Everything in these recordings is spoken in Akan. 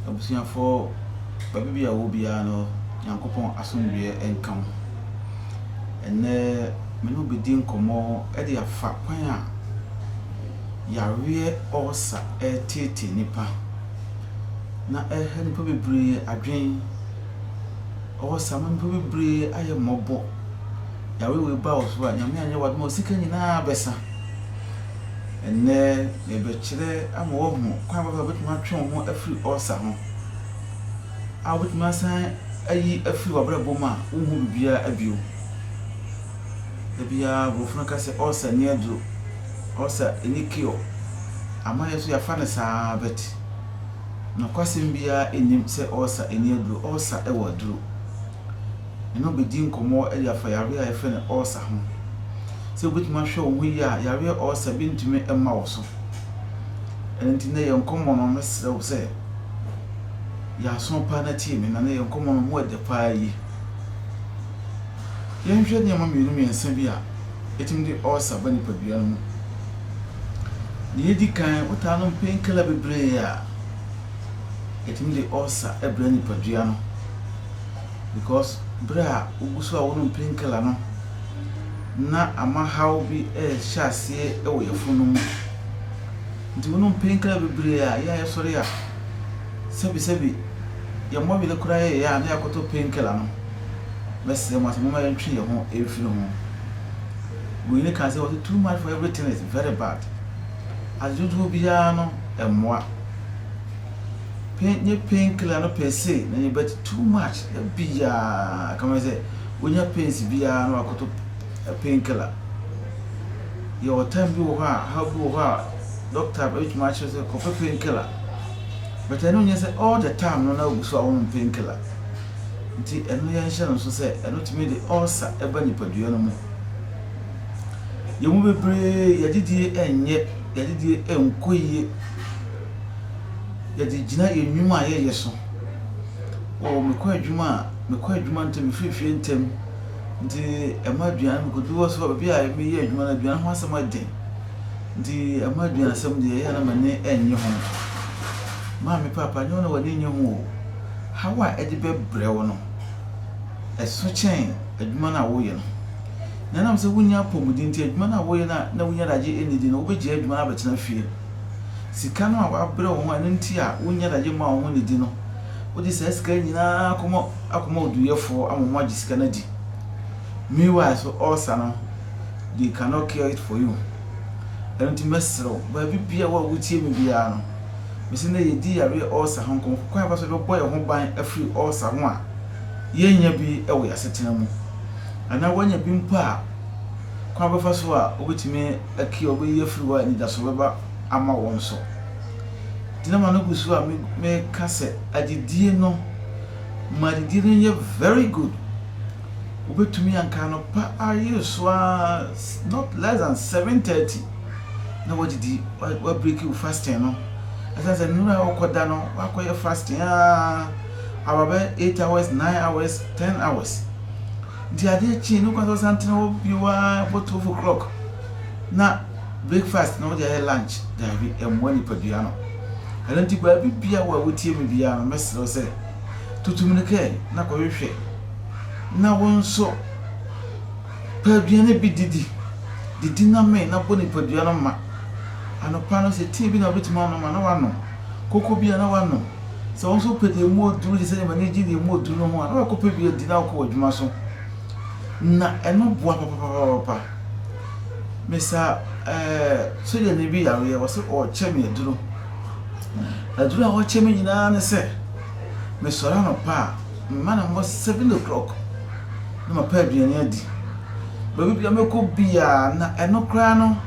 Abusuafoɔ baabi biara a wɔwɔ biara no Nyankopɔn asomdwoeɛ nka mo. Ɛnnɛ me ne wo bɛdi nkɔmmɔ de afa kwan a yareɛ ɔɔsa ɛreteetee nnipa na ɛreha nnipa bebree adwene. Ɔɔsa ama nnipa bebree ayɛ mmɔbɔ. Yareɛ wei ba wo so a, Nyame anyɛ w'adom a wo sika nyinaa bɛsa. Ɛnnɛ, yɛrebɛkyerɛ ama woahu kwan bɛn so na wobɛtumi atwe wo ho afiri ɔɔsa ho, a wobɛtumi asan ayi afiri w'abrabɔ mu a wonhu biribiara bio. Da biara Borɔfo no ka sɛ ɔɔsa nni aduro, ɔɔsa nni cure. Ama yɛn nso yɛafa no saa ara but nokwasɛm biara nnim sɛ ɔɔsa nni aduro, ɔɔsa wɔ aduro. ne no bedi nkɔmmɔ de afa yare a wɔfrɛ no ulcer ho. Sɛ wubetumi ahwɛ wo ho yiye a, yare ulcer bi ntumi mma wo so. Ɛno nti, nnɛ yɛn nkɔmmɔ no, mɛsrɛ wo sɛ yɛ aso paa na tie me, na nnɛ yɛn nkɔmmɔ no, mu dɛ paa yiye. Yɛnhwɛ nneɛma mmienu mmiɛnsa bi a etumi de ulcer ba nipadua no mu. Nea edi kan, wotaa nom painkiller bebree a, etumi de ulcer brɛ nipadua no. because bere a wogu so a wonom pain killer no na ama haw bi rehyɛ aseɛ wɔ yafunu no mu. Nti wonom pain killer bebree a yɛ a yɛsɔre a sɛbi sɛbi yɛmmɔ wene koraa yɛ yɛ a na yɛakɔtɔ pain killer no. Mɛsrɛ mo ase momma yɛntwe yɛn ho mfiri ho. Wei ne kan sɛ wɔte too much for everything is very bad. Adedwodwo biara no ɛmmoa. pain nye pain killer no per se na nye but too much dabiaa kama sɛ wonya pains biaa na wakoto pain killer yɛwɔ time bi wɔ hɔ a haw bi wɔ hɔ a doctor bɛtumi akyerɛ sɛ kɔpɛ pain killer but ɛno nyɛ sɛ all the time no na wogu so a wonom pain killer nti ɛno yɛnhyɛ no nso sɛ ɛno tumi de ulcer ɛba nipadua no mu yɛn mu bebree yɛadidie ɛnyɛ yɛadidie ɛnkɔ yie yɛdze gyina yɛn nnwuma a yɛyɛ so. Oh, mekɔ adwuma a, mekɔ adwuma ntsɛm, mefir fie ntsɛm, ntsi ɛma aduan, mukodu hɔ so a, beebi a meyɛ edwuma no, aduan ho asɛm yɛ dzen, ntsi ɛma eduansɛm dze, ɔyɛ a na m'enyi nnyi ho. Maame paapa, nnyɛ wo na w'enyi nnyi ho o, haw a edze bɛbrɛ wo no, eso kyɛn edwuma no a woyɛ no. Na ɛnam sɛ wunnya apɔwmudzen ntsi, edwuma no a woyɛ no a nna wunnya dze agye enyidzi no, wobegyaa edwuma no abɛtsena fie. Sika no a wɔabrɛ wo ho a ɛno nti a wonnya adagye mma wo ho nnidi no, wode saa sika yi nyinaa akɔma akɔma oduyɛfoɔ ama wɔagye sika no adi. Meanwhile so ɔresa no, they cannot cure it for you. Ɛno nti mɛsrɛ wo, baabi biara wɔ a wotie me biara no, mese nnɛ yɛredi yareɛ ɔresa ho nkɔmmɔ. Kwan a yɛfa so bɛbɔ yɛn ho ban afiri ɔresa ho a yɛnnya bi wɔ yɛn asetena mu anaa woanya bi mpo a, kwan a wobɛfa so a wobɛtumi aki a ɔbɛyi afiri hɔ a anidaso bɛba ama wɔn so. Nti na maame gu so a meka sɛ adidie no, ma adidie no nyɛ very good. Wobɛtumi anka anɔpa ayere so ara not less than 7:30 na wadidi wabreki wo fasting no. Ɛsɛ sɛ nnura a wokɔda no wakɔyɛ fasting a aba bɛ 8 hours, 9 hours, 10 hours. Nti adeɛ kyee no kwan sɛ ɔsan tena hɔ bio ara bɔ twelve o'clock na breakfast na ɔde ayɛ lunch daabi ɛmmoa nipadua no ɛno nti baabi bia wo a wotie me biara no mɛsrɛ wo sɛ tutu mmirika na kɔhwehwɛ na wo nso pɛ aduane bi didi didi na mee na bɔ nipadua no ma anɔpa no sɛ tea bi na wobɛtumi anom a na wanom Koko biara na wanom. Sɛ wo nso wopɛ deɛ emu ɔduru te sɛ Yemane gin deɛ emu ɔduru no ho a, na wakɔpɛ bi adi na wakɔ w'adwuma so. Na ɛno boa papapapapa. Mesaa ɛɛ sogyani bi yareɛ, ɔsɛ ɔrekyɛ me aduro. Aduro a ɔrekyɛ me nyinaa ne sɛ, mesɔre anɔpa a, mema no mmɔ seven o'clock na mapɛ aduane adi. Baabi biara mɛkɔ biara, na ɛno koraa no,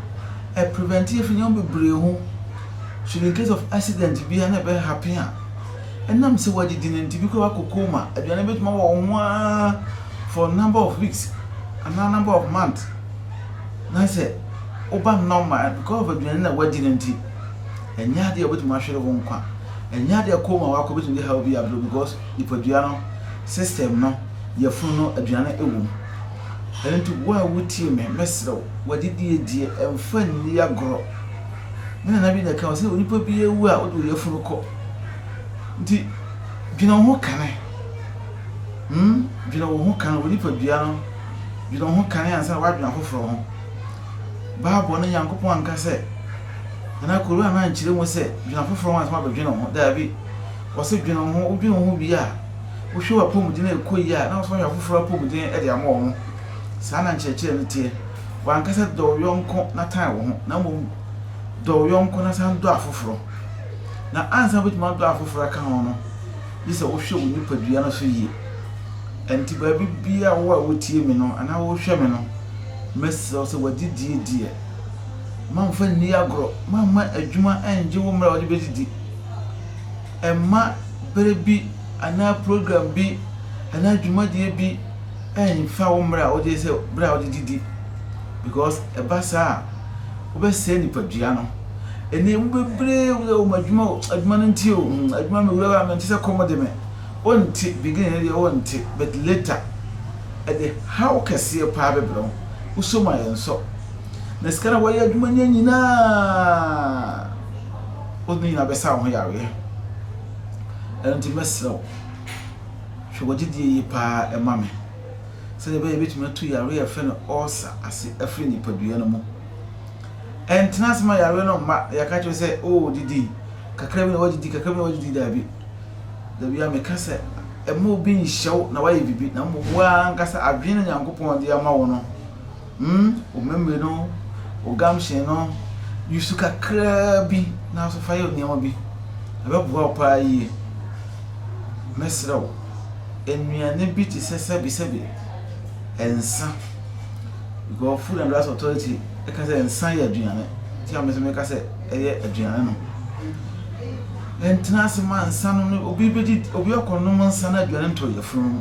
ɛprevɛnte yɛ firi nneɛma bebree ho. So in case of accident biara na ɛbɛ happen a, ɛnam sɛ wɔadidi no nti, bi koraa kɔ coma, aduane bɛtumi awɔ wɔn ho ara for number of weeks anaa number of months. Na sɛ woba normal a, because of aduane na wɔadi no nti, ɛnyɛ adeɛ a wɔbɛtumi ahwere wo nkwa. Ɛnyɛ adeɛ a coma wakɔ bɛtumi de haw bi abrɛ wo because nipadua no system no, yafunu no, aduane wɔ mu. Ɛno nti wo a wotie me, mɛsrɛ wo, w'adidie die mfa nni agorɔ. Me nana bi na ɛka sɛ onipa bi awu a wode oyafunu kɔ. Nti dwene wo ho kane. Hmm, dwene wo ho kane, wo nipadua no, dwene wo ho kane ansa na woadwene afoforɔ ho. Bible no Nyankopɔn anka sɛ, anaa Koran no ankyerɛ mu sɛ dwene afoforɔ ho ansa na woabɛdwene wo ho. Daabi. Ɔse dwene wo ho, wodwene wo ho wie a, wohwɛ w'apɔmuden a ɛkɔ yie a, na wosane ahwɛ afoforɔ apɔmuden de ama wɔn. Saa na nkyerɛkyerɛ no teɛ. wanka sɛ, Dɔ wo yɔnko na tan wo ho, na mmom dɔ wo yɔnko na san dɔ afoforo. Na ansa wubetumi adɔ afoforo aka ho no, gye sɛ wohwɛ wo nipadua no so yie. Ɛnti baabi biara a wo a wutie me no anaa worehwɛ me no, mɛsrɛ wo sɛ w'adidie deɛ, mamfa nni agorɔ, mamma adwuma anngye wo mmerɛ a wode bɛdidi. Mma berɛ bi anaa program bi anaa dwumadie bi, ɛnfa wo mmrɛ a wogye sɛ bere a wode didi because ɛba saa a wobɛsɛe nipadua no ɛnɛ mu bebree wura wɔn adwuma o adwuma no nti o hmm, adwuma mi wura mi nti sɛ kɔm de me wonte beginning no deɛ wonte but later ɛde haw kɛseɛ paa bɛbrɛ wo wosɔ mu a yɛnsɔ na sika na wɔyɛ adwuma nyɛ nyinaa wode ne nyinaa bɛsa wo ho yareɛ ɛno nti mɛsrɛ wo Hwɛ wɔ gyedie yi paa ma me, sɛdeɛ ɛbɛyɛ yɛbɛtumi atu yareɛ a yɛfrɛ no ulcer ase afiri nipadua no mu. Ɛntena ase ma yareɛ no mma na yɛaka kyerɛ sɛ, oh didi kakra bi na woadidi, kakra bi na woadidi, daabi. Dabiaa meka sɛ, mma obi nhyɛ wo na woayɛ biribi, na mmom wo ara ankasa adwene no Nyankopɔn de ama wo no, Hmm, wo memory no, wo gumption no, use kakraa bi nanso fa yɛ nneɛma bi. Ɛbɛboa wo paa yie. Mɛsrɛ wo, nnuane bi te sɛ sɛbesɛbe, nsa, because Food and Drugs Authority ka sɛ nsa yɛ aduane, nti a me nso meka sɛ ɛyɛ aduane no. Ɛntena ase ma nsa no ne obi bɛdi obi akɔnom nsa no aduane ntɔ yafunu no mu.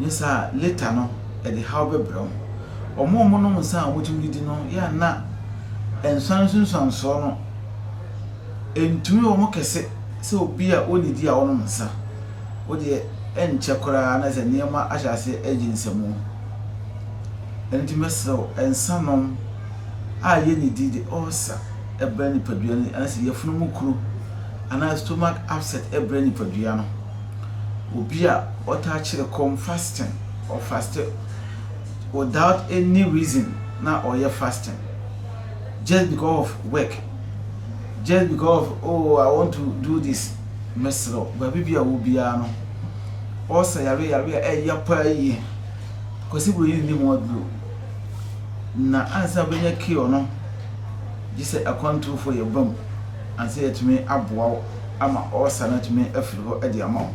Nsa a later no ɛde haw bɛbrɛ wo. Wɔn a wɔnom nsa a wɔtumi didi no yɛ a na nsuan nsunsuansoɔ no ntumi wɔn kɛse sɛ obi a ɔnnidi a ɔnom nsa. Wo deɛ ɛnkyɛ koraa na sɛ nneɛma ahyɛ aseɛ agye nsamu. Ɛno nti mɛsrɛ wo nsa nom a yɛnnidi de ulcer brɛ nipadua no anaasɛ yafunu mu kuro anaa stomach upset brɛ nipadua no. obi a ɔtaa kyerɛ kɔm fasting ɔ faste without any reason na ɔyɛ fasting just because of work just because of oh I want to do this mesrɛ baabi bi a wɔ biara no ɔsa yare yare a ɛyɛ paa yie kwasi wɔ yi ni ho aduro na ansa bɛnya kio no gye sɛ akwantufoɔ yɛ bam ansa yɛtumi aboa wo ama ɔɔsa no atumi afiri hɔ de ama wo.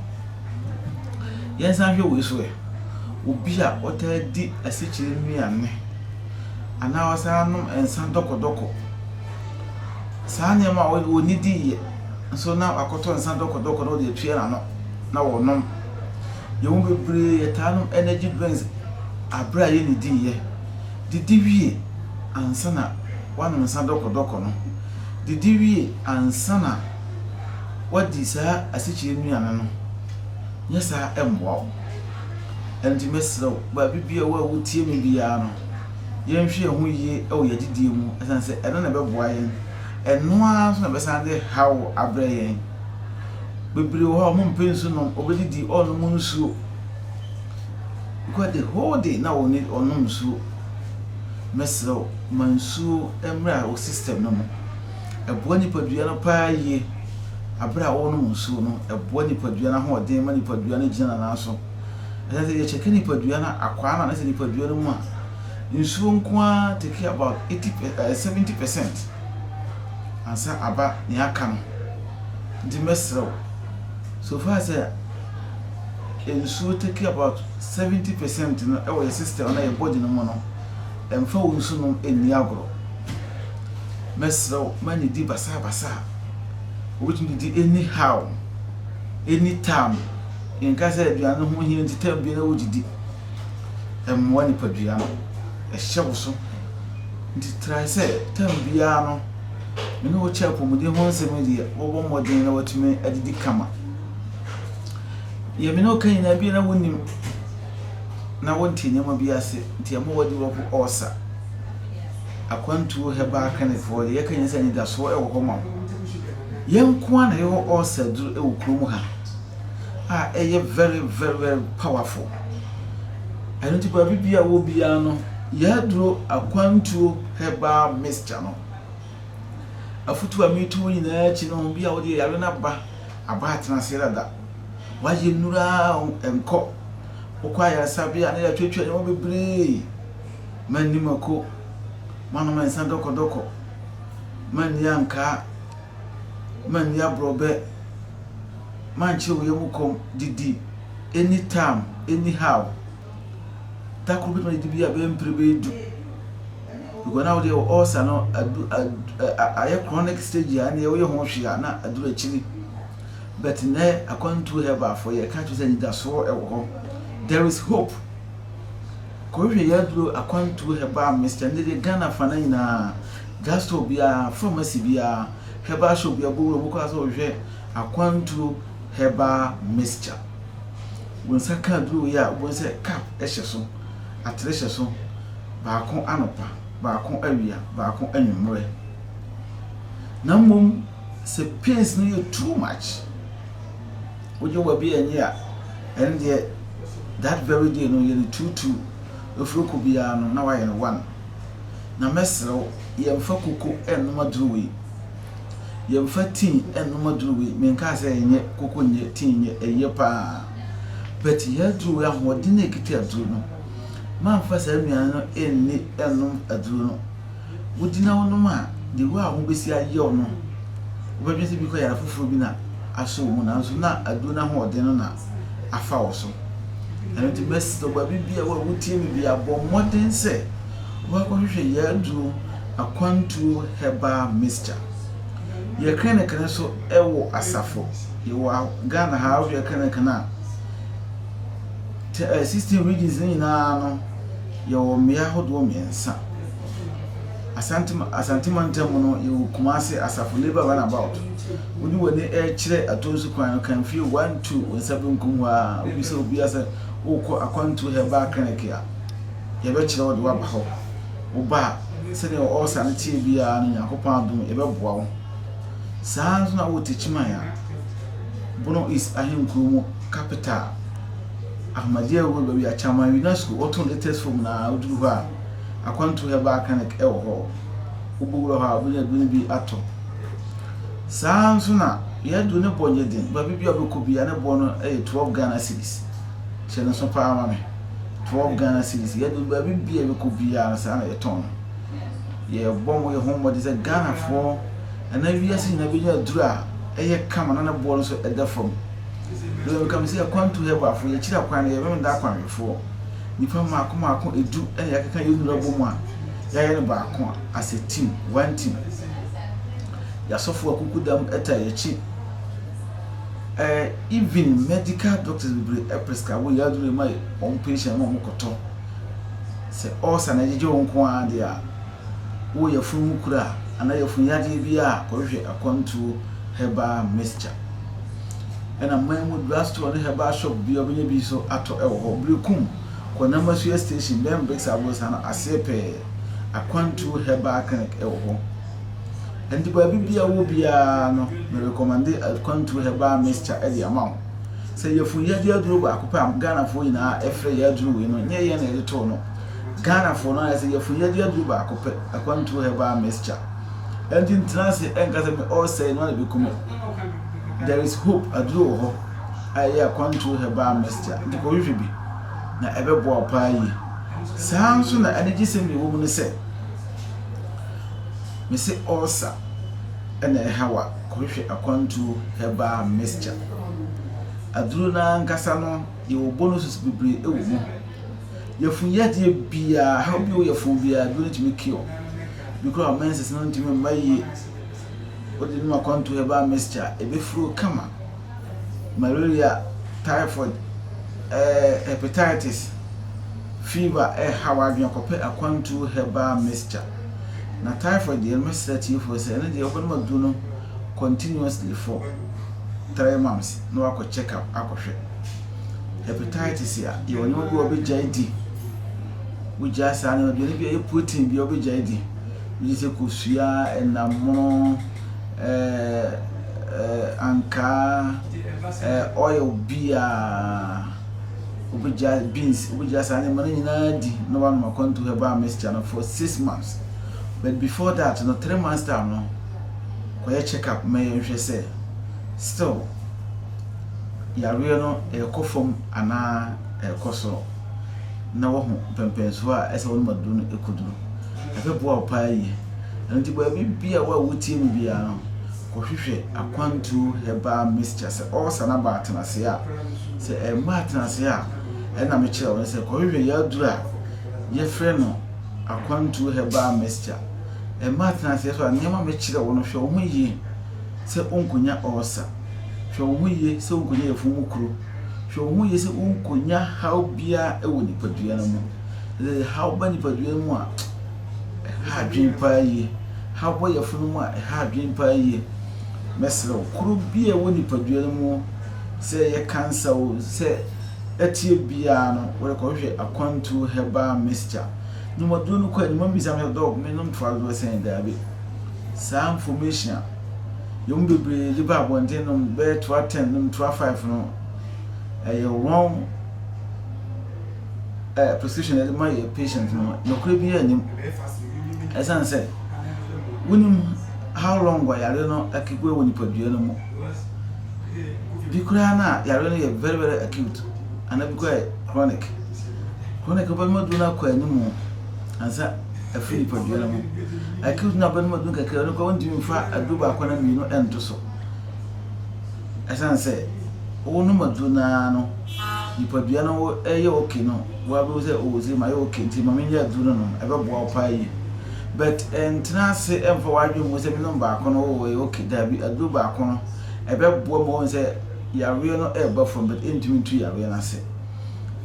Yɛnsan nhwɛ wei so ɛ, obi a ɔtaa di asikyire nnuane anaa ɔsan nom nsa dɔkɔdɔkɔ, saa nneɛma a wɔnni diiɛ nso na wakɔtɔ nsa dɔkɔdɔkɔ na ɔde atua n'ano na wɔnom. Yɛn mu bebree yɛtaa nom energy drinks aberɛ a yɛnni diiɛ, didi wie ansa na woanom nsa dɔkɔdɔkɔ no. didi wie ansa na woadi saa asikyire nnuane no, nyɛ saa ɛmmoa wo. Ɛno nti mɛsrɛ wo, baabi biara wɔ a wotie me biara no, yɛnhwɛ yɛn ho yie wɔ yɛn adidie mu ɛsiane sɛ ɛno na ɛbɛboa yɛn, ɛno ara nso na ɛbɛsan de haw abrɛ yɛn. Bebree wɔ hɔ a wɔmpɛ nsu nom, wɔbɛdidi, wɔnnom nsuo, because the whole day na wɔnnom nsuo. Mɛsrɛ wo ma nsuo mmra wo system no mu. Ɛboa nipadua no paa yie. Aberɛ a wonom nsuo no, ɛboa nipadua no ahoɔden ma nipadua no gyina ne nan so. Ɛsɛ sɛ yɛkyɛke nipadua no akwaa no a na sɛ nipadua no mu a, nsuo nko ara take about eighty per ɛɛ seventy percent ansa aba nea aka no. Nti mɛsrɛ wo, so far sɛ nsuo take about seventy percent no wɔ yɛ system anaa yɛ body no mu no, mfa wo nsu nom nni agorɔ. Mɛsrɛ wo ma nnidi basaa basaa. Wobɛtumi didi any how, any time. Nka sɛ aduane no ho hia nti time biara wodidi. Ɛmmoa nipadua no, ɛhyɛ wo so. Nti try sɛ time biara no me ne wo kyɛ apɔmuden ho nsɛm yi deɛ wobɔ mmɔden na watumi adidi kama. Deɛ me ne wo ka nyinaa bi a na wonnim na wonte nneɛma bi ase nti ɛma wɔde wɔ po ɔɔsa. Akwantuo herbal clinicfoɔ deɛ yɛka nyinaa sɛ anidasoɔ wɔ hɔ ma wo. Yɛn nko ara na yɛwɔ ɔɔsa aduru wɔ kurom ha a ɛyɛ very very very powerful. Ɛno nti baabi bi a wɔ biara no yɛaduro akwantuo herbal mixture no afutuo a metu wo nyinaa akyi no bi a wode yare no aba. Aba atena ase dada. Wayɛ nnuru ara o, ɛnkɔ. Wokɔ ayaresabea na yɛatwatwa nneɛma bebree. Manni mako, manom nsa dɔkɔdɔkɔ, manni ankaa, manni aborɔbɛ, mankyere wo yam kɔm, didi, any tam, any how. Da koro bɛtumi adi bi a bɛyɛ mpere bɛyɛ du. Because na wodeɛ wɔ ulcer no adu ayɛ chronic stage a ɛneɛ woyɛ ho hwee a na aduru akyiri. But nnɛ akwantuo herbal fo yɛ ka kyerɛ sɛ anidasoɔ ɛwɔ hɔ. There is hope. Kɔhwehwɛ yɛ aduro akwantuo herbal mist ɛnde deɛ Ghana fa no nyinaa drugstore biara pharmacy biara herbal shop biara bɔ wura mu kɔ asɛ wohwɛ akwantuo herbal mixture. Wo nsa ka aduru yi a wobɛhu sɛ cup hyɛ so, atere hyɛ so, baako anɔpa, baako awia, baako anwummerɛ. Na mmom sɛ pains no yɛ too much, wogye w'abi anyi a, ɛno deɛ that very day no yɛ no two two, ɛfiri ɔkɔ biara no na woayɛ no one. Na mɛsrɛ wo, yɛmfa kuku nnom aduru yi. Yɛmfa tea nnom aduro wei, menkaa sɛ ɛnyɛ, koko nyɛ, tea nyɛ, ɛyɛ pa ara. But yɛn aduro wei ahoɔden na ɛkita aduro no. Moamfa saa nnuane no nni nnom aduro no. Wodi na wonom a, the way a ho bɛsi ayɛ wo no, wobɛdwene sɛ bikɔ yare foforɔ bi na asɔ wo mu nanso na aduro no ahoɔden no na afa wo so. Ɛno nti mɛsrɛ wo, baabi biara wo a wotie me biara, bɔ mmɔden sɛ wobɛkɔhwehwɛ yɛn aduro Akwantuo Herbal Mixture. Yɛ kɛnɛkɛnɛ nso wɔ asafo. Yɛwɔ Ghana ha a, wohwɛ kɛnɛkɛnɛ a, te 16 regions no nyinaa no, yɛwɔ mmea ahodoɔ mmiɛnsa. Asante Asante mantam mu no, yɛwɔ Kumase asafo Labour Runabout. Wode w'ani rekyerɛ Atonsu kwan no, kan fie one two wo nsa benkum hɔ ara, wobisa obiara sɛ wokɔ Akwantuo Herbal Clinic a, yɛbɛkyerɛ wo de woaba hɔ. Wo ba a, sɛdeɛ wo ulcer no teɛ biara no, Nyankopɔn adom, yɛbɛboa wo. Saa ara nso na wowɔ Techiman a, Bono East ahenkuro mu capital, Ahmadiyya wɔ baabi a Chaman Unesco wɔto latest form no ara, woduru hɔ a, Akwantu Herbal Clinic wɔ hɔ. Wobɛwura hɔ a, wobɛnya aduro bi atɔ. Saa ara nso na yɛn aduro no bɔ nyɛ den, baabi biara wobɛkɔ biara ne boɔ no yɛ 12 Ghana cedis. Hyɛ no nso paa ma me. twelve Ghana cedis, yɛde baabi bia yɛbɛkɔ biara no saa na yɛtɔn no. Yɛbɔ mo yɛho mmɔden sɛ Ghanafoɔ anaa wiase nyinaa bɛnya aduru a ɛyɛ kama na ne boɔ no nso ɛda fam. Deɛ meka me sɛ Akwantu Herbalfoɔ yɛkyiri akwan no yɛ Memenda Akwanwefoɔ. Nnipa mmaako mmaako edu ɛna yɛakeka yɛn nnuro abɔ mu a yɛayɛ no baako as a team, one team. Yɛasɔfoɔ akukudam ɛta yɛakyi. Eh even medical doctors bebree ɛprescabo yɛ aduro ɛma wɔn patient ma wɔn kɔtɔ sɛ ulcer na ɛgyegye wɔn nko ara deɛ a wo yɛfun ho kura anaa yɛfun yadeɛ bi a kɔhwehwɛ akwantuo herbal mixture ɛna man mu drug store ne herbal shop bi a ɔbɛnya bi so atɔ ɛwɔ hɔ brekum kɔ namasua station bɛn bricks abosa no aseɛ pɛɛ akwantuo herbal clinic ɛwɔ hɔ. Ɛnti baabi bia wowɔ biara no me recommende Akwantuo Herbal Mixture de ama wo. Sɛ yafunu yadeɛ aduro baako pɛ a Ghanafoɔ nyinaa ɛfrɛ yɛ aduro wei no nyɛ yɛn na yɛde too no. Ghanafoɔ no ayɛ sɛ yafunu yadeɛ aduro baako pɛ Akwantuo Herbal Mixture. Ɛnti ntena ase ɛnka sɛ me ɔresɛe no a na bɛku me. There is hope aduro wɔ hɔ a ɛyɛ Akwantuo Herbal Mixture nti kɔhwehwɛ bi na ɛbɛboa wo paa yie. Saa nso na anigyesɛm deɛ ɛwɔ mu ne sɛ Mese ulcer na ɛha wo a, kɔhwehwɛ akwantuo herbal mixture. Aduro no ankasa no, yɛwɔ bonuses bebree wɔ mu. Yafun yadeɛ biara, how bi wɔ yafun biara, aduro no tumi cure. Bi koraa menses no ntumi mma yie. Wode nom akwantuo herbal mixture a, ɛbɛfiri wo kama. malaria, typhoid, eh, hepatitis, fever ɛrehaw eh, adwene kɔpɛ akwantuo herbal mixture. Na typhoid deɛ no mesrɛ tiefoɔ sɛ ɛno deɛ wobɛnom aduro no continuously for three months na wakɔ check up akɔhwɛ. Hepatitis a yɛwɔ nneɛma bi a wɔbɛgyae di wogyaa saa nneɛma bi ɛno bi ɛyɛ protein bi a wɔbɛgyae di wogye sɛ kosua ɛnamono ankaa, oil bi a wobɛgya beans, wobɛgya saa nneɛma no nyinaa di na wanom akwantu herbal mixture no for six months. But before that no three months time no kɔyɛ check up ma yɛnhwɛ sɛ still yareɛ no ɛrekɔ fam anaa ɛrekɔ soro na wahu mpɛmpɛnsoɔ a ɛsɛ wɔnom aduro no ɛkɔduru. ɛbɛboa wo paa yie. Ɛno nti baabi biara wo a wotie me biara no, kɔhwehwɛ akwantuo herbal mixture. Sɛ ɔɔsa no aba atenaseɛ a, sɛ ɛmma atenaseɛ a, ɛna mekyerɛ wo no sɛ kɔhwehwɛ yɛaduru a yɛfrɛ no akwantuo herbal mixture. Ɛmma atenaseɛ so a, nneɛma mekyerɛ wo no hwɛ wo ho yie sɛ wonkɔnya ɔɔsa. Hwɛ wo ho yie sɛ wonkɔnya yafunu mu kuro. Hwɛ wo ho yie sɛ wonkɔnya haw biara wɔ nipadua no mu. Sɛ haw ba nipadua no mu a, ɛha adwene paa yie. Haw ba yafunu no mu a, ɛha adwene paa yie. Mɛsrɛ wo, kuro bi a ɛwɔ nipadua no mu, sɛ ɛyɛ kansa o, sɛ ɛteɛ biara no, wode kɔhwehwɛ akwantuo herbal mixture. Nom aduro no kɔ anim, ɔmmisa me sɛ, Dɔk, menom toa dodoɔ sɛn? Daabi. Saa information a yɛn mu bebree de ba abɔnten nom bɛyɛ toa ten, nom toa five no, ɛyɛ wrong. ɛɛ prescription yɛde ma yɛ patient no nokorɛ bi anim ɛsiane sɛ wonim how long a yare no akikue wɔ nipadua no mu bi koraa no a yare no yɛ very very acute anaa bi koraa yɛ chronic chronic wobɛnoma duro no akɔ anim ansa afiri nipadua no mu acute no a wobɛnoma duro kakra no koraa wontumi mfa aduro baako na mmienu ɛnto so Ɛsiane sɛ wonom aduro no ara no, nipadua no yɛ okay no, woabɛhu sɛ oh ɔse mayɛ okay nti ma menyɛ aduro no nom, ɛbɛboa wo paa yie. But ntena ase mfa w'adwene mmu sɛ menom baako no oh ɛyɛ okay, daabi, aduro baako no ɛbɛboa ma woahu sɛ yareɛ no ɛreba fam but ɛntumi ntu yareɛ no ase.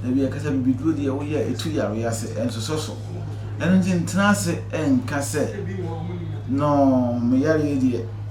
Da bi ɛkasa bibiduro deɛ woyɛ a ɛtu yareɛ ase, ɛnsosɔ so. Ɛno nti ntena ase nka sɛ no meyareɛ deɛ.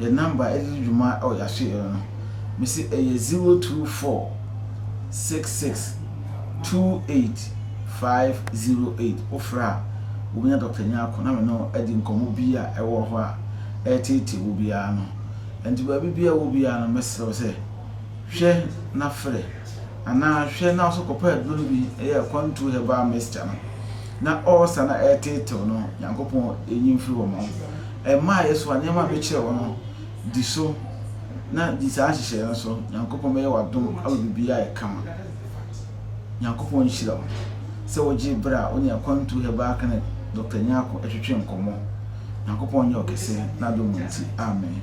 yɛ number ɛde di dwuma wɔ yɛaso yɛ no no mese ɛyɛ zero two four six six two eight five zero eight wofrɛ a wobɛnya Dɔkta Nyarko na me no adi nkɔmmɔ bi a ɛwɔ hɔ a ɛreteetee wo biara no ɛnti baabi bi a wɔ biara no mɛsrɛ wo sɛ hwɛ na frɛ anaa hwɛ na nso kɔpɛ aduro no bi ɛyɛ kwantu herbal mixture no na ɔɔsa na ɛreteetew no Nyankopɔn ɛnyi mfiri hɔ ma wo Ɛmma yɛ so a nneɛma a mekyerɛɛ wo no, di so, na di saa nhyehyɛe no so. Nyankopɔn bɛyɛ wo adom ama biribiara ayɛ kama. Nyankopɔn nhyira wo sɛ wogyee bere a wo ne Akwantu Herbal Clinic Doctor Nyarko twetwee nkɔmmɔ. Nyankopɔn nyɛ ɔkɛse, n'adom mu nti. Amen.